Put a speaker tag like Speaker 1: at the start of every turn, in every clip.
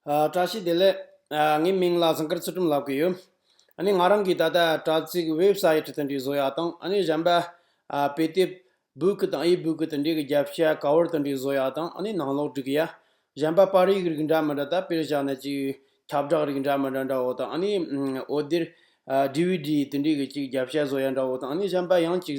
Speaker 1: བཀྲ་ཤིས་བདེ་ལེགས། ངའི་མིང་ལ་ཟངས་དཀར་ཚུལ་ཁྲིམས་ལབ་གི་ཡོད། ང་རང་གིས་ད་ལྟ་དྲ་ཚིགས Web Site དེ་འདྲའི་བཟོ་ཡག་དང་གཞན་པ་དཔེ་དེབ Book དང E-Book དེ་འདྲའི་རྒྱབ་ཤ Cover དེ་འདྲའི་བཟོ་ཡག་དང་ནང་ལོག་སྒྲིག་ཡག། གཞན་པ་པར་ཡིག་རིགས་འདྲ་མི་འདྲ་དག་དཔེར་བཞག་ན་ཅིག་ཁྱབ་བསྒྲགས་རིགས་འདྲ་མི་འདྲ་འདྲ་བོ་དང་ཨ་ནི་འོད་སྡེར DVD དེ་འདྲའི་གི་ཅིག་རྒྱབ་ཤ་བཟོ་ཡག་འདྲ་བོ་དང་གཞན་པ་ཡང་ཅིག་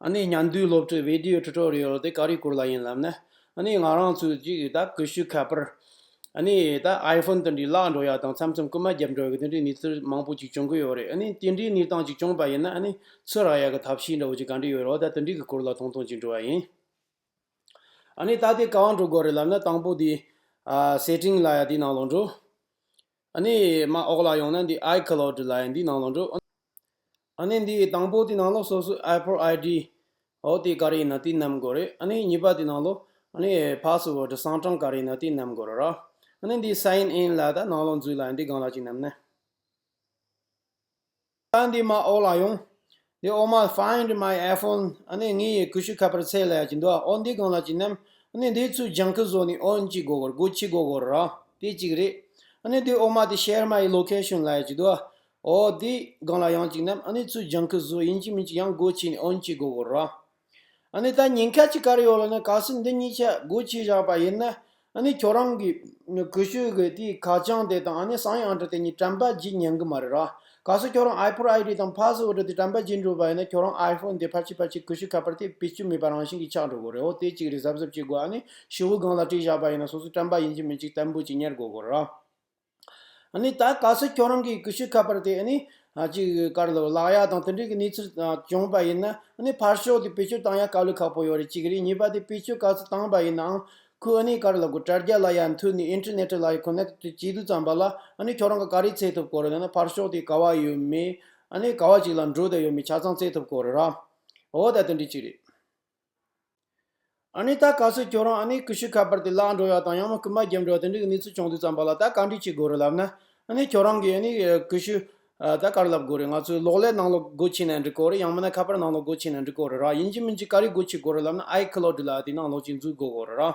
Speaker 1: ཨ་ནེ་མཉམ་འདུས་སློབ་ཁྲིད་བེད་ལྡིའོ Tutorial དེ་ག་རེ་བསྐུར་ལ་ཡིན་ལབ་ན། ཨ་ནེ་ང་རང་ཚོས་ཅིག་ད་གུས་ཤུགས་ཁ་པར། ཨ་ནེ་ད iPhone དེ་འདྲའི་བརླག་འགྲོ་ཡ་དང་མཚམས་མཚམས་རྐུ་མ་རྒྱབ་འགྲོ་གི་དེ་འདྲའི་གནས་ཚུལ་མང་པོ་ཅིག་བྱུང་གི་ཡོད་རེད་ཨ་ནེ་དེ་འདྲའི་གནས་སྟངས་ཅིག་བྱུང་པ་ཡིན་ན་ཨ་ནེ་ཚོས་རག་ཡ་གི་ཐབས་ཤེས་འདྲ་བོ་ཅིག་ག་འདྲ་ཡོད་རོགས་ད་དེ་འདྲའི་གི་སྐོར་ལ་ཐུང་ཐུང་ཅིག་འབྲི་བ་ཡིན། ཨ་ནེ་ད་དེ་ག་བ་འགྲོ་དགོས་རེད་ལབ་ན་དང་པོ་དེ། Setting ལ་ཡ་འདི་ནང་ལོག་འགྲོ། ཨ་ནེ་མ་འོག་ལ་ཡོང་ན་འདི iCloud ལ་ཡ་འདི་ནང་ལོག་འགྲོ། ཨ་ནི་འདི་ཡི་དང་པོ་དེ་ནང་ལོགས་སོ་སོའི་ཨའི་ཕོར་ཨའི་དྲི། ཨོ་དེ་ཀ་རི་ཡི་ན་དེ་རྣམས་དགོས་རེད་ཨ་ནི་གཉིས་པ་དེ་ནང་ལོགས་ཨ་ནི་ཨའི་ཕ་སོ་བོ་དྲི་བཟང་གྲངས་ཀ་རི་ཡི་ན་དེ་རྣམས་དགོས་རེད་ར། ཨ་ནི་འདི་སའི་ཨིན་ལ་ད་ནང་ལོགས་འཛུལ་ལ་འདི་གང་ལ་གཅིག་རྣམས་ནི། ད་འདི་མ་ཨོ་ལ་ཡོང། འདི་ཨོ་མ find my iPhone ཨ་ནི་ངའི་ཡི་གུ་ཤུ་ཁ་པར་ཚད་ལས་ཀྱི་འདུག་ཨོ་འདི་གང་ལ་གཅིག་རྣམས་ཨ་ནི་འདི་ཚོའི་ལྗང་ཁུ་བཟོ་ནི་ཨོ་གཅིག་དགོས་དགོས་དགོས་གཅིག་དགོས་དགོས་རེད་ར་དེ་གཅིག་རེད། ཨ་ནི་འདི་ཨོ་མ་དེ་ཤེར་མ་ཡི་ལོ་ཁེ་ཤོན་ལས་ཀྱི་འདུག་ཨོ་དེ་སྒང་ལ་ཡང་ཅིག་ནམ་ཨ་ནེ་ཚོའི་ལྗང་ཁུ་བཟོ་ཡིན་གྱི་མིན་གྱི་ཡང་དགོད་བྱས་ནས་ཨོན་གྱིས་མགོ་བོ་རོགས། ཨ་ནེ་ད་ཉེན་ཁ་ཅིག་གར་ཡོད་ལ་ནི་ག་སྲིད་འདི་གཉིས་ཆ་དགོད་བྱས་བཞག་པ་ཡིན་ན་ཨ་ནེ་ཁྱོད་རང་གི་གུས་ཤོས་གི་དེའི་ཁ་བྱང་དེ་དང་ཨ་ནེ་སང་ཡི་ཨང་གྲི་དེ་གཉིས་བཀྲམ་པ་བརྗེད་ཉན་གི་མ་རེད་རོགས་ག་སྲིད་ཁྱོད་རང་ཨའི་ཕོར་ཨའི་གྲི་དང་ཕ་སི་འུ་གྲི་དེ་བཀྲམ་པ་བརྗེད་འགྲོ་བ་ཡིན་ན་ཁྱོད་རང་ཨའི་ཕོར་འདི་ཕར་ཕྱིན་ཕར་ཕྱིན་གུས་ཤོས་ཁ་པར་དེ་བེད་སྤྱོད་མེད་པ་རང་བཞིན་གྱིས་ཆགས་འགྲོ་དགོས་རེད་ཨོ་དེ་གཅིག་རེད་གཟབ་གཟབ་བྱེད་དགོས་ཨ་ནེ་ཤི་བོའི་སྒང་ལ་བྲིས་བཞག་པ་ཡིན་ན་སོ་སོས་བཀྲམ་པ་ཡིན་གྱི་མིན་གྱི་གཏན་འབོད་ཅིག་གཉེར་དགོས་གོ་རོགས། ནི་ད་ག་ཚོད་ཁྱོད་རང་གིས་ཀུ་ཤུ་ཁ་པར་དེ་ནི། གཅིག་དཀར་ལ་ལག་ཡག་དང་དེ་འདྲའི་གནས་ཚུལ་བྱུང་པ་ཡིན་ན་ནི་ཕར་ཞོག་དེ་བེད་སྤྱོད་བཏང་ཡ་དཀའ་ལས་ཁག་པོ་ཡོད་རེད་གཅིག་རེད་གཉིས་པ་དེ་བེད་སྤྱོད་ག་ཚོད་བཏང་པ་ཡིན་ནའང་ཁོས་ནི་དཀར་ལ་དགོད་སྒྲ་རྒྱག་ལ་ཡ་མཐུད་ནི་ཨིན་ཏེར་ནེ་ཏེར་ལ་ཡ་ཁོ་ནའི་དུས་སྐྱིད་སྡུག་ཙམ་པ་ལ་ནི་ཁྱོད་རང་གི་ག་རེ་ཚད་ཐུབ་གོ་རེ་ད་ནི་ཕར་ཞོག་དེ་ག་བ་ཡོད་མེད་ནི་ག་བ་ཅིག་ལ་འགྲོ་བསྡད་ཡོད་མེད་ཆ་ཚང་ཚད་ཐུབ་གོ་རེ་ར་འོ་ད་དེ་འདྲའི་གཅིག་རེད། ཨཱ་ནི་ད་ག་ཟེར་ཁྱོད་རང་ཨཱ་ནི་ཀུ་ཤུ་ཁ་པར་དེ་བརླག་འགྲོ་ཡ་དང་ཡང་མ་རྐུན་པ་བརྒྱབ་འགྲོ་དེ་འདྲའི་གནས་ཚུལ་བྱུང་དུས་ཙམ་པ་ལ་ད་ག་འགྲིག་བྱེད་དགོས་རེད་ལབ་ན་ཨཱ་ནི་ཁྱོད་རང་གི་ཨཱ་ནི་ཀུ་ཤུ་ད་ག་རེ་ལབ་དགོས་རེད་ང་ཚོས་གློག་ཀླད་ནང་ལོག་སྒོ་ཕྱེ་ནས་འབྲི་དགོས་རེད་ཡང་མིན་ན་ཁ་པར་ནང་ལོག་སྒོ་ཕྱེ་ནས་འབྲི་དགོས་རེད་ར་ཡིན་གཅིག་མིན་གཅིག་ག་རེ་སྒོ་ཕྱེ་དགོས་རེད་ལབ་ན་ཨཱའི་ཁི་ལོ་སྒྲིལ་ཨཱ་དེ་ནང་ལོག་ཅིག་འཛུལ་དགོས་རེད་ར།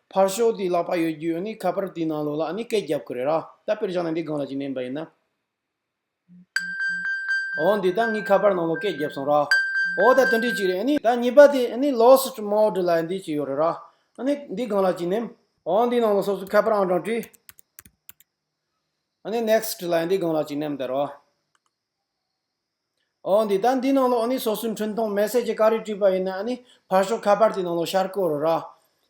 Speaker 1: ཕར་ཞོག་དེའི་ལག་པ་ཡོད་རྒྱུ་ཡོད་ནི་ཁ་པར་དེའི་ནང་ལོག་ལ་ནི་སྐད་བརྒྱབ་ཁོ་རེ་ར་ད་པེར་བཞག་ནས་འདི་སྒང་ལ་ཅིག་མནན་པ་ཡིན་ན། འོ་འདི་ད་ངའི་ཁ་པར་ནང་ལོག་སྐད་བརྒྱབ་སོང་ར་འོ་ད་དོན་འགྲིག་ཅིག་རེད་ནི་ད་གཉིས་པ་དེ་ནི་ལོག་སུ་ཀྲི་མའོ་ཀྲི་ལ་ཡང་འདི་ཅིག་ཡོད་རེ་ར་ནི་འདི་སྒང་ལ་ཅིག་མནན། འོ་འདིའི་ནང་ལོག་སོ་སོའི་ཁ་པར་ཨང་གྲངས་བྲིས། ནི next ཀྲི་ལ་ཡང་འདི་སྒང་ལ་ཅིག་མནན་བལྟ་རོགས། འོ་འདི་ལྟར་འདི་ནང་ལོགས་ནི་སོ་སོའི་འཕྲུལ་མཐོང་མེ་སྲེག་གྱི་ཀ་རིགས་བྲིས་པ་ཡིན་ན་ནི་ཕར་ཞོག་ཁ་པར་དེ་ནང་ལོགས་ཤར་སྐོར་རོ་ར།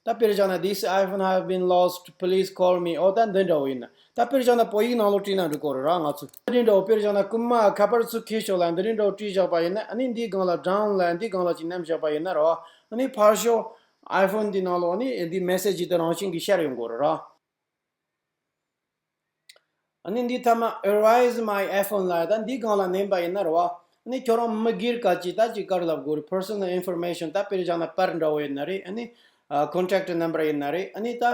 Speaker 1: ད་དཔེར་བཞག་ན this iPhone have been lost please call me འོ་ད་འདི་འདྲ་བོ་ཡིན་ན་ད་དཔེར་བཞག་ན་བོད་ཡིག་ནང་ལོགས་བྲིས་ན་འགྲིག་སྐོར་རོ་ར་ང་ཚོས། འདི་འདྲ་བོ་དཔེར་བཞག་ན་རྐུན་མ་ཁ་པར་ཚུར་འཁེལ་ཞོག་ལ་འདི་རིང་འདྲ་བོ་བྲིས་བཞག་པ་ཡིན་ན་ནི་འདིའི་སྒང་ལ་སྦྲང་ལ་འདིའི་སྒང་ལ་ཅིག་བསྣམས་བཞག་པ་ཡིན་ན་རོ་ནི་ཕར་ཞོག iPhone དེ་ནང་ལོགས་ནི་འདི་མེ་སྲེག་བྱས་ཏེ་རང་བཞིན་གྱིས་ཤར་ཡོང་སྐོར་རོ་ར། ཨཱ་ནི་འདི་ཐ་མ་ཨེར་བྷ་ཨིས་མ་ཡི iPhone ལ་ད་འདི་གང་ལ་ནན་པ་ཡིན་ན་རེ་བ་ཨཱ་ནི་ཁྱོད་རང་མི་སྒེར་ག་ཅི་ད་ཅི་དཀར་ལབ་དགོས་རེད Personal Information ད་དཔེར་བཞག་ན་པར་འདྲ་བོ་ཡིན་ན་རེད་ཨཱ་ནི Contact Number ཡིན་ན་རེད་ཨཱ་ནི་ད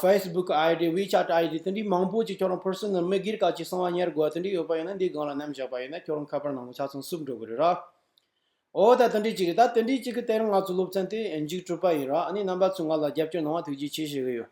Speaker 1: Facebook ID WeChat ID དེ་འདྲའི་མང་པོ་ཅིག་ཁྱོད་རང Personal མི་སྒེར་ག་ཅི་གསང་བ་གཉེར་དགོས་བ་དེ་འདྲའི་ཡོད་པ་ཡིན་ན་འདི་གང་ལ་ནན་བཞག་པ་ཡིན་ན་ཁྱོད་རང་ཁ་པར་ནང་ལ་ཆ་ཚང་བསུབ་འགྲོ་དགོས་རེད་ར་འོ་ད་དེ་འདྲའི་ཅིག་རེད་ད་དེ་འདྲའི་ཅིག་གི་སྟེང་ར་ང་ཚོའི་སློབ་ཚན་དེ་འཇིག་གྲུབ་པ་ཡིན་ར་ཨཱ་ནི་རྣམ་པ་ཚོས་ང་ལ་རྒྱབ་སྐྱོར་གནང་བ་ཐུགས་རྗེ་ཆེ་ཞེས་གི་ཡོད།